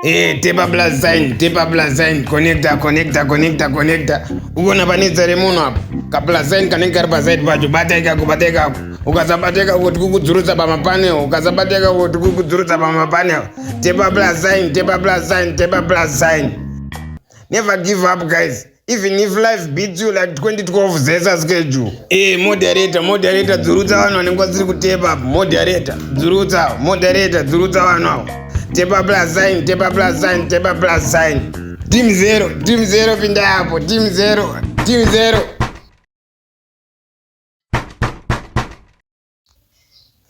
Eh, tepa plus sign, tepa plus sign, connector, connector, connector, connector. Uko na panetsa remunhu apo. Ka plus sign kanenge kari pa side pacho, bata ikako, bata ikako. ukasabateka kuti kukudzurutsa pamapanel ukasabateka kuti kukudzurutsa pamapanel tepa plus sign tepa plus sign tepa plus sign never give up guys even if life beats you like 2012 zesa schedule e moderator moderator dzurutsa vanhu vanenge vasiri kutepa moderator dzurutsa moderator dzurutsa vanhu avo tepa plus sign tepa plus sign tepa plus sign team zero team zero pinda apo team zero team zero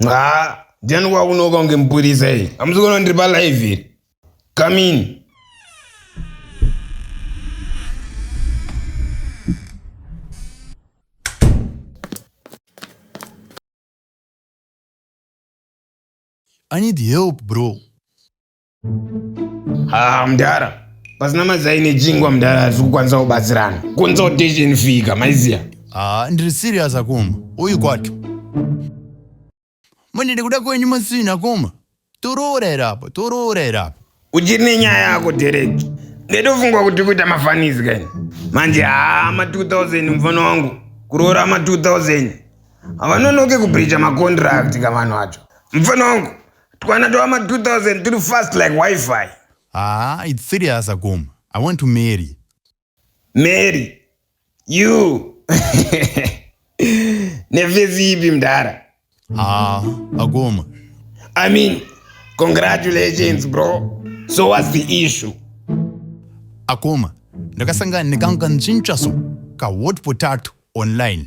ha ndiani wakunoka kunge mupurisa iyi hamusi kuona ndiri palive iri kamini I need help, bro. Ah, mdara pasina mazai nejingwa mdara hatisi kukwanisa kubatsirana consultation fika maiziya haa ah, ndiri serious akoma uyu kwato mani ndikuda kwenyu masina koma toroora here apa toroora here apa uchiri nenyaya yako dereki ndetofungwa kuti kuita mafanisi kani manje haa ma 2000 mufana wangu kuroora ma 2000 havanonoke kubreacha macontract kavanhu acho mufana wangu Twana twama 2000 turi fast like wifi. Haa, it's serious akoma. I want to marry. Marry? You? Nefesi ipi mdara? Haa, akoma. I mean, congratulations bro. So what's the issue? Akoma, ndakasangana nekanhu kanchintsva so, ka hot potato online.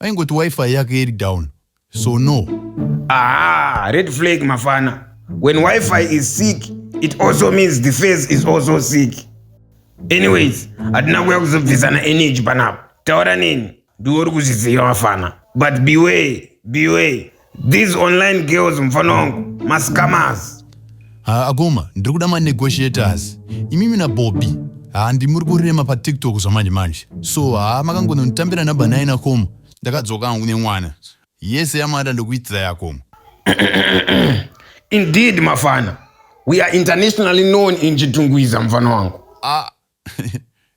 Aingoti wifi yake iri down. So no. Ah, red flag mafana. When wifi is sick, it also means the face is also sick. Anyways, hatina kuya kuzobvisana energy panapa. Taura neni. Ndiwe uri kuzviziva mafana. But beware, beware. These online girls mfana wangu mascamas. Ha akoma ndiri kuda ma negotiators. Imimi na Bobby. Ha ndimuri kurema pa TikTok zvamanje manje. So ha makangononditambira number 9 akoma. Ndakadzoka hangu nemwana. Yese yamada ndokuitira yakoma. Indeed mafana. We are internationally known in Chitungwiza mfana wangu. Ah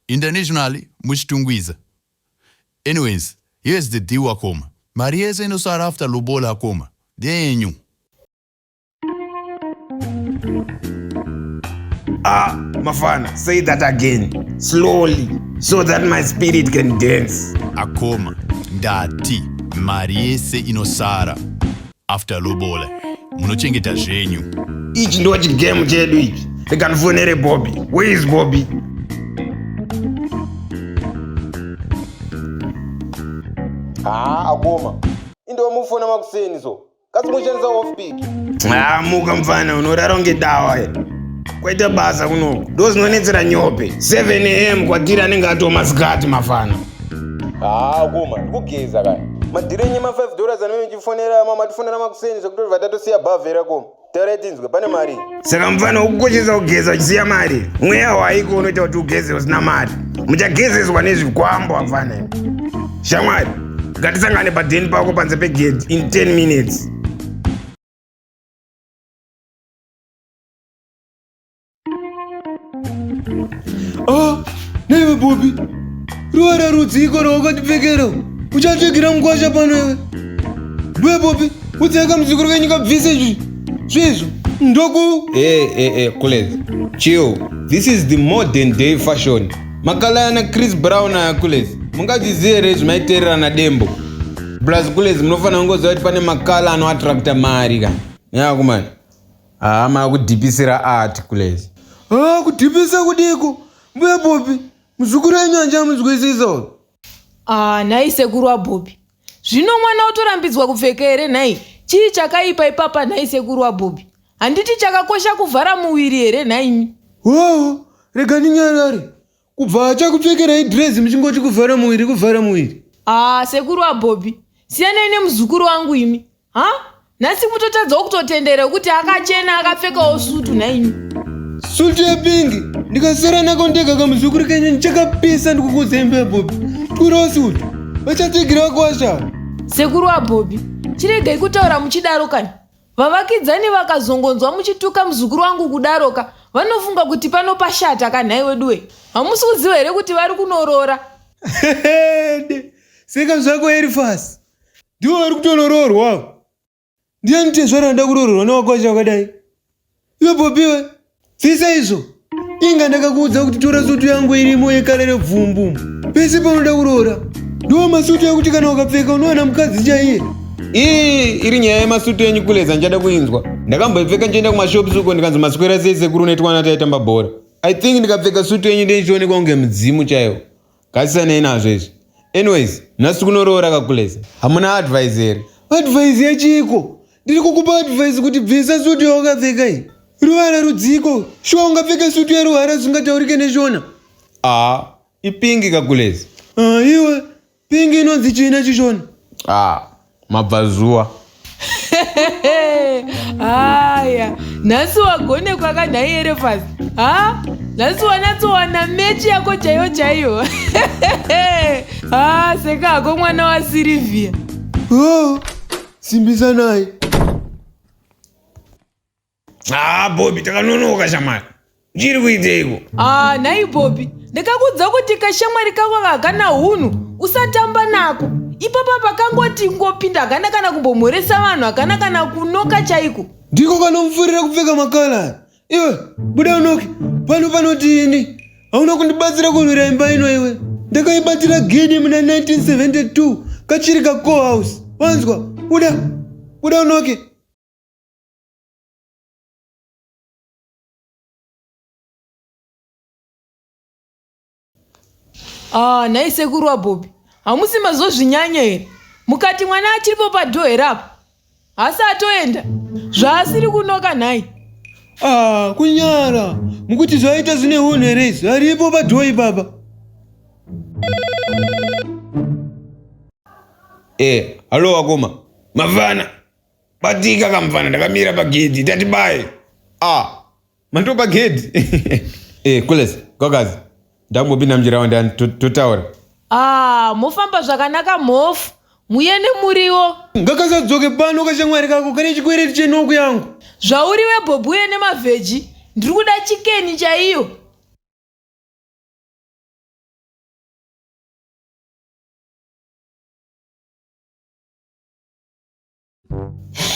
internationally muchitungwiza. Anyways here's the deal wakoma. Mari yese inosara after lobola akoma ndeyenyu. Ah, Mafana, say that again, slowly, so that my spirit can dance. Akoma, ndati, mari yese inosara. After lobola munochengeta zvenyu. Ichi ndo chigame chedu ichi. Rega ndifonere Bobby. Where is Bobby? Haa ah, akoma. Indo mufona makuseni so. Kasi mushandisa off pick. Haa ah, muka mfana unorara unge dawa here. Kwaita basa kunoku. Ndo zinonetsera nyope. 7 am kwatiri anenge atoma zikati mafana. haa kuma ndikugeza ka madhirenye ma 5 dollars anove chifonera ma matifonera makuseni zvekuti vatatosiya bhavhera ko taurai tinzwe pane mari saka mufana ukukoshesa kugeza uchisiya mari mweya waiko unoita kuti ugeze usina mari muchagezeswa nezvikwambo amfana shamwari ngatisangane padheni pako panze pegedhi in 10 minutes Ah, newe Bobby, ruvara rudziko rwawakatipfekera uchatsvagira mukwasha pano iwe. Ndiwe Bobby, udzeka muzukuru wenyu kabvise izvi zvezvo ndoku. Hey, hey, hey, Kule, chill. This is the modern day fashion. Makala ana Chris Brown aya Kule, mungadziziye here zvimaiterera na Dembo? Blaz Kule, munofanira kungoziva kuti pane makala anoattracta mari ka. Nyakumani. Haa makudhipisira art kule. Haa kudhipisa kudiko? Mbuya Bobi, muzukuru enyu handichamunzwisisa uyu. Ah, nhai sekuru waBobby. Zvino mwana otorambidzwa kupfeka here nhai? Chii chakaipa ipapa nhai sekuru waBobby? Handiti chakakosha kuvhara muviri here nhaimi? Hoo, rega ndinyarare. kubva achakupfekerai dress muchingoti kuvhara muviri kuvhara muviri haa sekuru wabhobhi siyanai nemuzukuru wangu imi ha nhasi mutotadzawo kutotendera wekuti akachena akapfekawo sutu nhaimi sutu yepingi ndikasara nako ndega kamuzukuru kenyu ndichakapisa ndikukudzai mba yabhobhi twirawo sutu vachatsigira vakuwashaa sekuru wabhobhi chiregai kutaura muchidaro kani Vavakidzani vakazongonzwa muchituka muzukuru wangu kudaroka vanofunga kuti pano pashata ka nhai weduwe. Hamusi kuziva here kuti vari kunoroora? Hede, seka zvako Erifasi. Ndivo vari kutonoroorwa. Ndiani tezvara anoda kurororwa newako wacho wakadai? Iwe Bobby we, siisa izvo. Inga ndakakuudza kuti tora sutu yangu irimo yekala rebvumbu. Pese paunoda kuroora. Ndiwo masutu ekuti kana ukapfeka unowana mukadzi chaiye. Iyi iri nyaya yemasutu enyu kuleza ndichada kuinzwa. Ndakamboipfeka ndichienda kumashops uko ndikanzi maswera sei sekuru netwana taitamba bhora. I think ndikapfeka sutu yenyu ndiye ndichionekwa kunge mudzimu chaiwo. Gadzisiranei nazvo izvi. Anyways, nhasi tiri kunoroora kakuleza. Hamuna advice here? Advice yechiko? Ndiri kukupa advice kuti bvisa sutu yawakapfeka iyi. Ruvara rudziko. Shuwa ungapfeka sutu yeruvara zvingataurike neshona. Ah, ipingi kakuleza. Ah, iwe. Pingi inonzi china chishona. Ah, mabvazuva haya nhasi wagonekwa ka nhai erefas ha nhasi wanatsowana mechi yako chaiyo chaiyo ha seka hako mwana wasilivia oh, simbisanai haa bobi takanonoka shamwari chiri kuiteiko haa nhai bobi ndakakudza kuti kashamwari kako kakana hunhu usatamba nako ipapa pakangoti ngopinda hakana kana kumbomhoresa vanhu hakana kana kunoka chaiko ndiko kanomufurira kupfeka makala iwe buda unoke pano panoti ini hauna kundibatsira kurwira imba ino iwe ndakaibatira gini muna 1972 kachiri kacohouse wanzwa buda buda unoke Ah, nhai sekuru wabhobi hamusi mazozvinyanya here mukati mwana achiripo padho here apo hasi atoenda zvaasiri kunoka nhai Ah, kunyara mukuti zvaita zvine hunhu here izvi aripo padhoyi baba Eh, halo wakoma. Mavana. batika kamufana ndakamira pagedhi tati baye ah mandiwo pagedhi eh kulesa kwakazi ndangopinda mujira wandani totaura ah mofamba zvakanaka mhofu muye nemuriwo ngakasadzoke pano kashamwari kako kane chikwereti chenoku yangu zvauri webhobhu uye nemavheji ndiri kuda chikeni chaiyo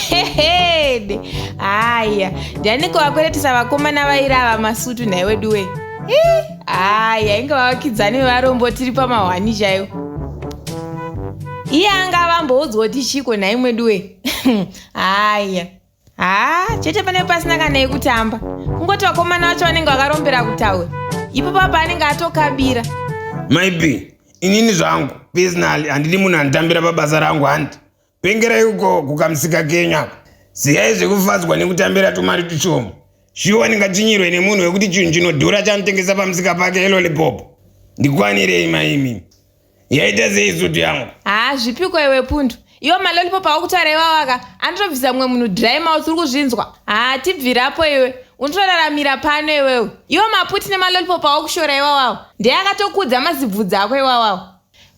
hehede haya ndianiko vakweretesa vakomana vairi ava masutu nhai wedu wee haya inge vavakidzani vevarombo tiri pamahwani chaivo iye anga vamboudzwa kuti chiko nhai mwedu wee haya haa chete pane pasina kana yekutamba kungoti vakomana vacho vanenge vakarombera kutaura ipo papa anenge atokabira maibi inini zvangu pesinali handidi munhu anditambira pabasa rangu handi pengerai uko kukamusika kenyu ako ziyai zvekufadzwa nekutambira tumari tushoma shuwa ndingachinyirwe nemunhu wekuti chinhu chinodhura chanotengesa pamusika pake elolipopo ndikwanirei maimi yaita sei sutu yangu haa zvipiko iwe pundu iwo malolipo paukutaura iwawaka anotobvisa mumwe munhu dry mouth uri kuzvinzwa haa tibvirapo iwe unotoraramira pano iwewe iwo maputi nemalolipo pawakushora iwawawo ndeye akatokudza mazibvudzi ako iwawawo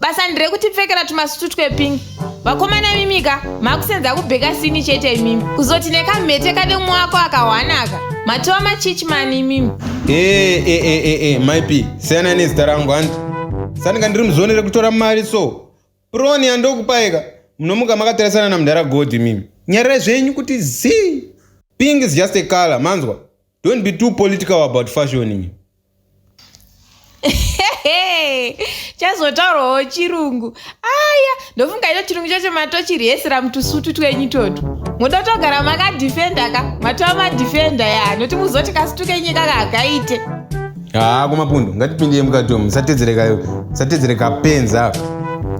basa ndirekuti pfekera tumasutu twepingi vakomana imimika makusenza kubheka sini chete imimi kuzoti nekamhete kane umwe wako akahwanaka matova machichmani imimi ee eh, ee eh, ee eh, myp siyana nezita rangu hanzi sandinga ndiri muzoni rekutora mari so proni yandokupaika munomuka makatarisana namudhara god imimi nyararai zvenyu kuti zii ping is just a color manzwa Don't be too political about fashion. chazotaurawo chirungu aya ndofunga ito chirungu chacho matochirihesera mutusutu twenyu toto moda kutogara makadhifenda ka matova madhifenda ya noti muzoti kasutu kenyika kakaite haa kumapundu ngatipindei mukato musatedzere kapenza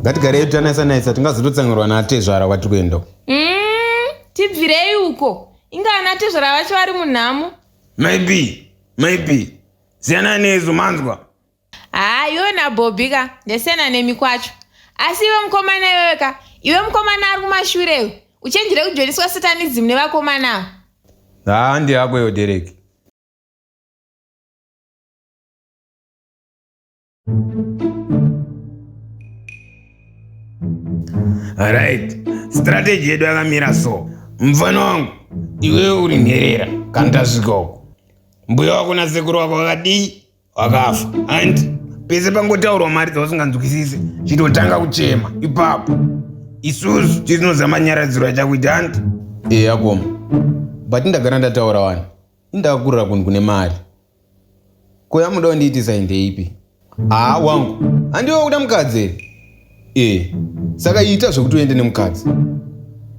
ngatigareyo tanaisa naisa tingazototsanirwa natezvara kwatiri kuenda mm, tibvirei uko inga ana tezvara vacho vari munhamo maybe maybe siyana neizvo manzwa haa iwe nabhobi ka ndasiyana nemi kwacho asi iwe mukomana iwewe ka iwe mukomana ari kumashure iwe uchenjere kujoiniswa satanism nevakomana ava haa ndiyako iyo dereki Right. Strategy yedu yakamira so. Mfana wangu, iwe uri nherera kana tasvika uko. Mbuya wako na sekuru wako vakadii? Wakafa. And pese pangotaurwa mari dzausinganzwisise, chitotanga kuchema ipapo. Isusu tisinozama nyaradziro yachakuita hanti. Eya koma. But ndagara ndataura wani. Indakakurira kunhu kune mari. Ko yamuda kundiitisa ndeipi? Haa wangu, handiwe wakuda mukadzi here? Ee, saka ita zvekuti uende nemukadzi.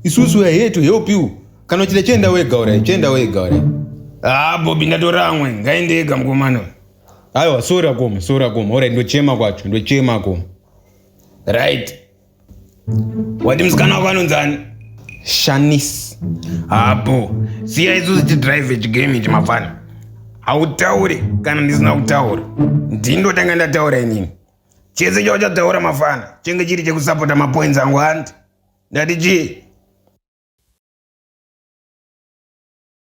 Isusu we are here to help you. Kana uchida chienda wega orai, chienda wega orai. Haa Bobi ndatora amwe, ngaende ega mukomana uyu. Aiwa, sorry akoma, sorry akoma. Orai, ndochema kwacho, ndochema akoma. Right, wati musikana wako anonzi ani shanis hapo siya isusu tidrive chigame ichi mafana hautaure kana ndisina kutaura ndindotanga ndataura inini chese chauchataura mafana chenge chiri chekusapota mapoints angu handi ndati chii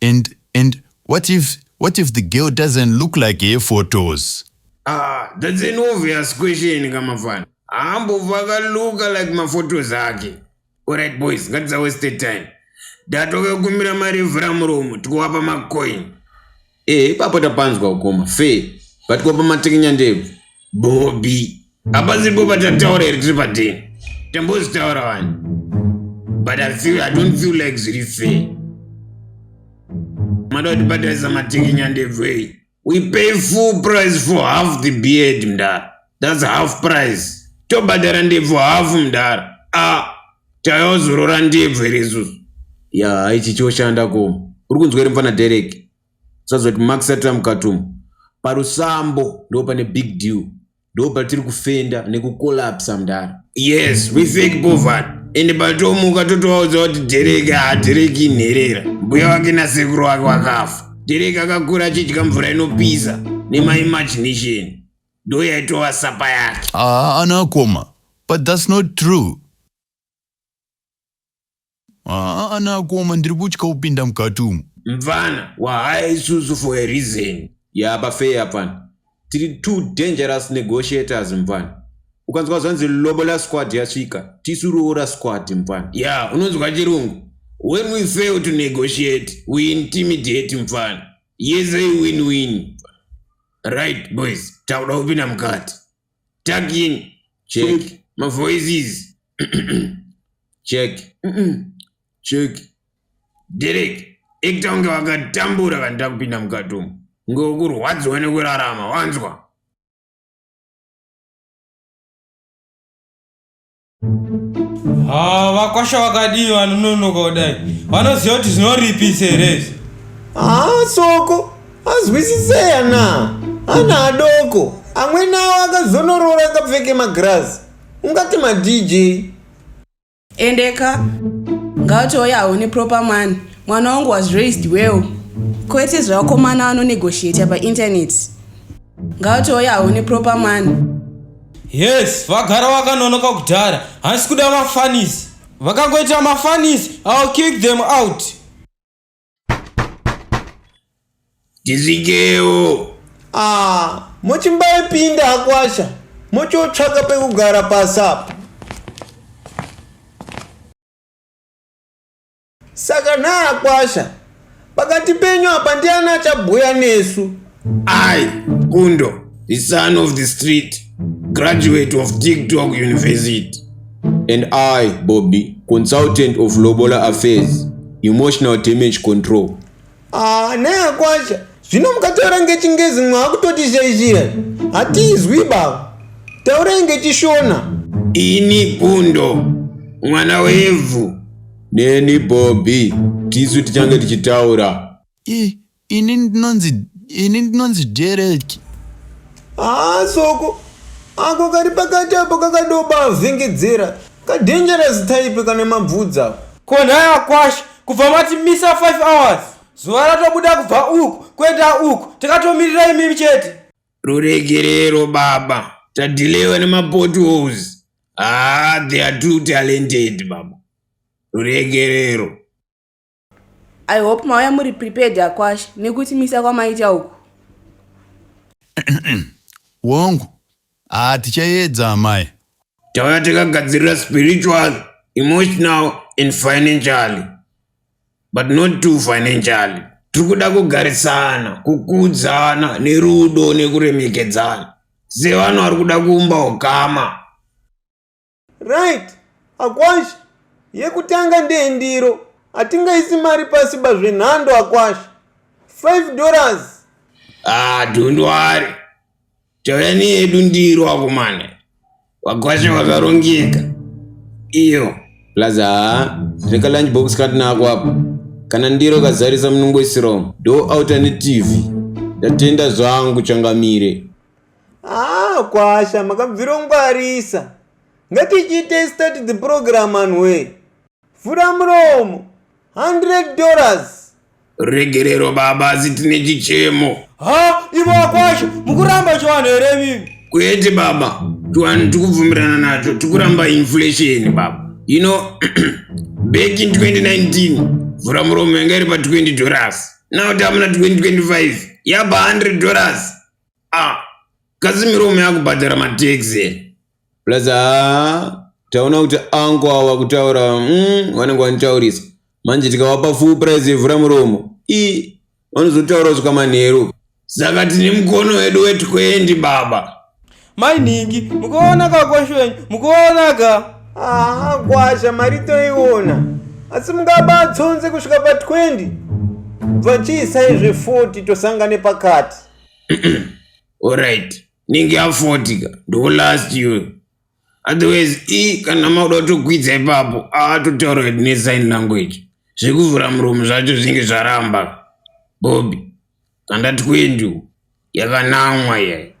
And and what if what if the girl doesn't look like her photos? Ah, that's an obvious question kamafana. Haambova akaluka like maphotos ake. Alright boys, ngatisa waste time. Datove kumira mari yevhura muromo, tikuvapa macoin. Eh, ipapo tapanzwa ukoma. Fair. But kuwapa matekenyandebvu. Bobby. Apa zipo patataura here tiri padini? Tambozitaura wani? But I feel I don't feel like zviri fair. Mada kuti bataisa matiki nyandevei. We pay full price for half the beard mdara. That's half price. Tobhadhara ndebvu half mdara. Ah, tayozorora ndebvu here isusu? Ya, ichi choshanda ko. Uri kunzwa here mfana Derek? Usazoti Max Satram Katumu. Parusambo ndipo pane big deal. ndopatiri kufenda nekukolapsa mdara yes we think bovan ende patomuka totovaudza kuti dhereki haadhereki inherera mbuya wake nasekuru wake wakafa dhereki akakura achidya mvura inopisa nemaimagination ndo yaitova sapa yake haana ah, koma but thats not true Haa ana akoma ndiri kutya kupinda mukati umu. Mvana wahaya isusu for a reason. Yaa pafair apana. Tiri two dangerous negotiators mvana. Ukanzwa zvanzi lobola squad yasvika, tisu roora squad mvana. Yaa unonzwa chirungu. When we fail to negotiate, we intimidate mvana. Yese i win win. Right boys, takuda kupinda mukati. Tagging. Check. Check. My voices. Check. Check. Derek, ita kunge wakatambura kana takupinda mukati umu. Kunge ukurwadziwa nekurarama, wanzwa? Ah, vakwasha vakadii vanononoka kudai vanoziva kuti zvinoripisa here izvi haa ah, soko azwisiseya na ana adoko amweni awo akazonoroora akapfeke magirazi ungati madj endeka ngautouya haone proper man mwana wangu was raised well kwete zvevakomana vanonegotiata painternet ngautouya haone proper man Yes, vagara vakanonoka kudhara. Hansi kuda mafanis. Vakangoita mafanis, I'll kick them out. Tizikeo. Ah, mochimbai pinda akwasha. Mochotsvaka pekugara pasapa. Saka naakwasha pakati penyu apa ndiani achabhuya nesu? I, Gundo, the son of the street, graduate of TikTok University. And I, Bobby, consultant of Lobola Affairs, emotional damage control. Ah, naya kwasha zvino mukataura ngechingezi mwaakutotishayishira hatizwi baba taurai ngechishona ini bundo mwana wevhu neni bobby tisu tichange tichitaura I, ini ndinonzi ini ndinonzi Derek. haa soko ako kari pakati apo kakadobavhengedzera Ka dangerous type kane mabvudzi ako. Ko nhai akwasha kubva mati misa 5 hours zuva ratobuda kubva uku kuenda uku takatomirira imimi chete. Ruregerero baba tadilewa nemapotholes haa they are too talented baba ruregerero. I hope mauya muri prepared akwasha nekuti misa kwamaita uku. Wangu. Ah tichayedza amai. Tauya takagadzirira spiritual, emotional and financially. But not too financially. Tiri kuda kugarisana, kukudzana nerudo nekuremekedzana. Sevanhu vari kuda kuumba ukama. Right Akwasha yekutanga ndeye ndiro hatingaisi mari pasi ba zvenhando Akwasha 5 dollars Ah, don't worry. Tauya neyedu ndiro vakomana. Vakwasha vakarongeka. Iyo. Plaza haa reka lunch box katinako apa kana ndiro kazarisa munongoisirawo do alternative ndatenda zvangu changamire Haa kwasha makabvirongwarisa. Ngatichiitei start the program anhuwee. Vhura muromo. 100 dollars. Regerero baba asi tine chichemo. Ha ivo akwasha mukuramba chivanhu here mimi. Kwete baba. Chivanhu tikubvumirana nacho tikuramba inflation baba. You know back in 2019 vhura muromo yanga iri pa 20 dollars. Now tamuna 2025 yaba 100 dollars. ah kazimiro ume akubhadhara mataxi plus haa taona kuti anko awa kutaura mm, vanenge vanitaurisa manje tikavapa full price yevhura muromo i vanozotaura kusvika manheru saka tine mukono wedu wetwendi baba mai nhingi mukuona ka kwasho wenyu mukuona ka aha kwasha mari toiona asi mungabatsonze kusvika pa 20 bva chiisai zve 40 tosangane pakati Alright. Ninge ya 40 ka. Ndo last year. Otherwise i kana mauda kutokwidza ipapo aatotaura hedu ne sign language. Zvekuvhura muromo zvacho zvinge zvaramba. Bobby. Kandati kwendu yakanamwa yayi.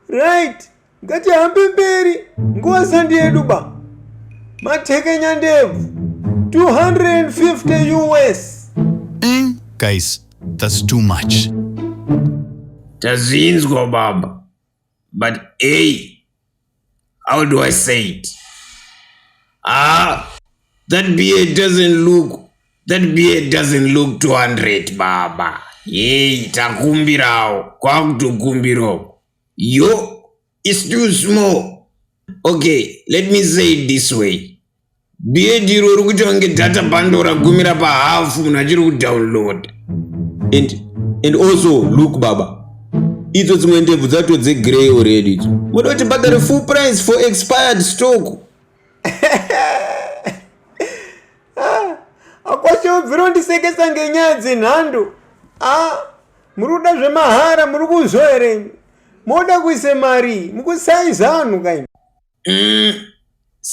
Right. Ngatihambe mberi nguva sandi yedu ba. Matekenya ndebvu 250 US. Mm, guys, that's too much. Tazinzwa baba. But hey, how do I say it? Ah, that beard doesn't look that beard doesn't look 200 baba. Hey, takumbirawo kwakutokumbirawo. Yo, it's too small. Okay, let me say it this way. Beard iro uri kuitwa kunge data bundle ragumira pahafu munhu achiri kudownload. And, and also, look baba, idzo dzimwe ndebvu dzatodze grey already idzo. Moda kuti bhadhare full price for expired stock. akwashe ubvira undisekesa ngenyaya dzenhando a muri kuda zvemahara muri kuzvo here moda kuise mari mukusaiza vanhu kaini mm,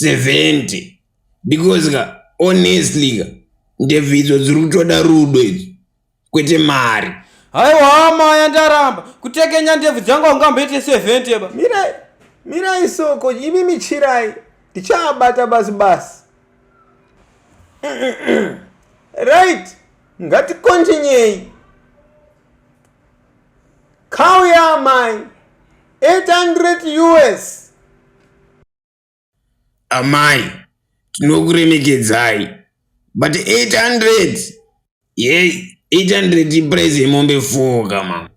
70 because ka honestly ka ndebvidzo dziri kutoda rudo idzi kwete mari haiwa amaya ndaramba kutekenya ndebvu dzangu aungamboite sevent eba mirai mirai soko imi michirai ndichaabata basi basi right ngatikontinyei khauya amai 800 us Amai tinokuremekedzai but 800 yei 800 iprice yemombe four ka mama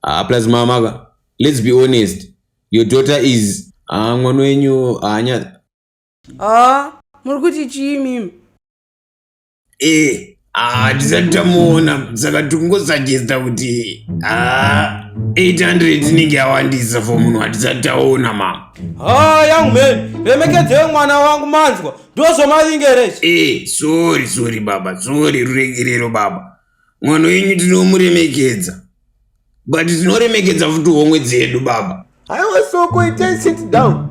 ah, plus mama ka let's be honest your daughter is ah, mwana wenyu haanya ah, muri kuti chii mimi Eh, ah, tisati tamuona saka tikungosajesta kuti ah, 800 inenge yawandisa for munhu watisati taona mama ha young man remekedzei mwana wangu manzwa ndozvomavingerechi Eh, sorry sorry baba sorry ruregerero baba mwana wenyu tinomuremekedza but tinoremekedza futi homwe dzedu baba haiwa soko itai sit down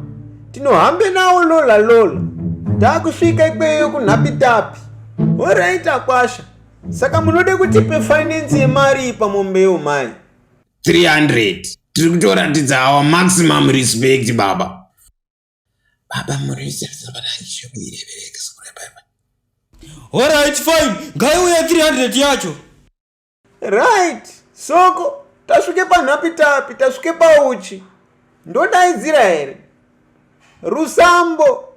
tinohambe nawo lola lola taakusvika ikweyo kunhapitapi horait akwasha saka munode kutipe finance yemari ipa mombeyo mai 300 tiri kutoratidza our maximum respect baba Baba Muriza Zabaranje kuirebereka sikure baba. Alright fine, ngaiuye 300 yacho. Right, soko tasvike panhapi tapi tasvike pauchi. Ndodaidzira here? Rusambo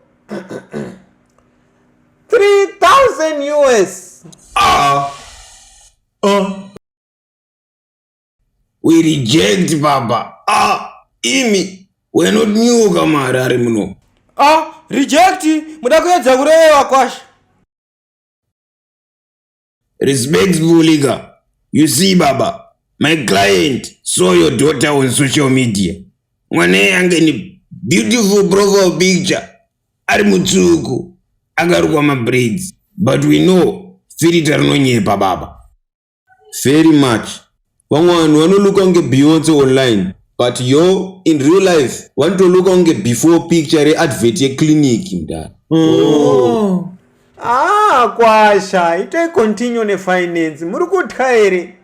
3000 US. Ah. Uh. We reject baba. Ah, imi we're not new kama Harare muno. Ah, reject muda kuedza kurewa kwasha. Respectfully ka. You see baba, my client saw your daughter on social media. Mwana yange ni beautiful profile picture. Ari mutsuku. Akarukwa ma braids. But we know filter rinonyepa baba. Very much. Vamwe vanhu vanolooka kunge Beyonce online but yo in real life vanotoloka kunge before picture readvert yeclinic mdara. Oh. Ah, kwasha, itoi continue nefinance. Muri kutya here?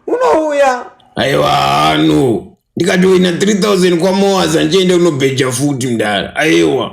Unouya. Aiwa hano. Ndikatoina 3000 kwaMoaz andichaenda kunobheja futi mdara. Aiwa.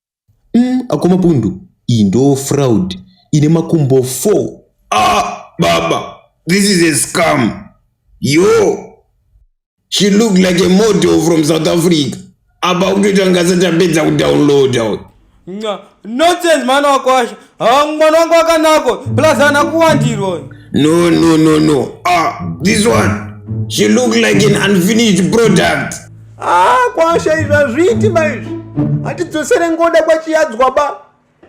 Mm, akoma pundu iyi ndo fraud ine makumbo 4. Ah baba this is a scam. Yo she look like a model from South Africa. Apa kutoita ngasa tapedza kudownloada. Nonsense mwana wakwasha. Ah, mwana wangu akanako plus ana kuwandirwa no no no no ah this one she look like an unfinished product ah kwasha izvi hazviiti maizvi hatidzosere ngoda kwachiyadzwa ba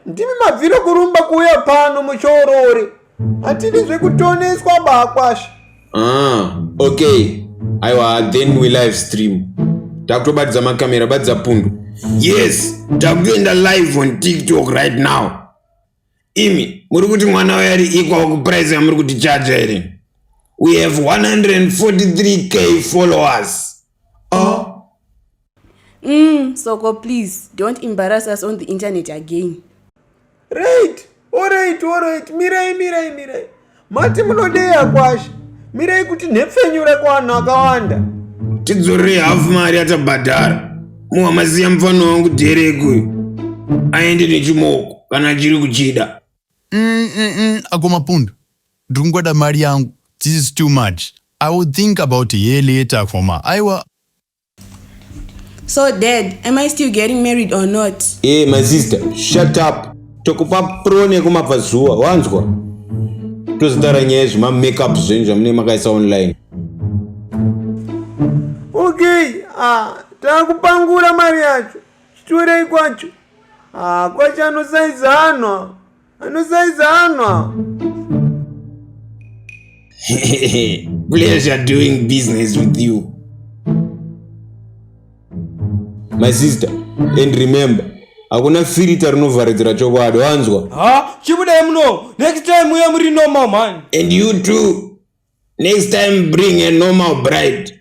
ndimi mabviro kurumba kuuya pano muchoorori hatidi zvekutoneswa ba kwasha ah, okay aiwa then we live stream takutobatidza makamera batidza pundu yes takutoenda live on tiktok right now imi muri kuti mwana wayo ari equal kuprice yamuri kuti chaja here we have 143k followers ah. mm, soko please don't embarrass us on the internet again right orit orit mirai mirai mirai mati munodeya kwashe mirai kuti nhepfenyure kuvanhu akawanda tidzorerei hafu mari yatabhadhara muwamaziya mufana wangu dherekoyo aende nechimoko kana achiri kuchida mm, mm, mm, akomapundu Ndikungoda mari yangu this is too much I will think about her later koma aiwa So dad, am I still getting married or not? Hey my sister, shut up. Tokupa pro nekumabva zuva, wanzwa? Tozotaura nyaya yezvima makeup zvenyu zvamune makaisa online. Okay, ah, takupangura mari yacho. Chitorei kwacho. Ah, kwacho anosaiza anhu. Anosaizanwa. Pleasure doing business with you. My sister, and remember, hakuna filita rinovharidzira chokwadi wanzwa ha chibudai muno next time uye muri normal man and you too next time bring a normal bride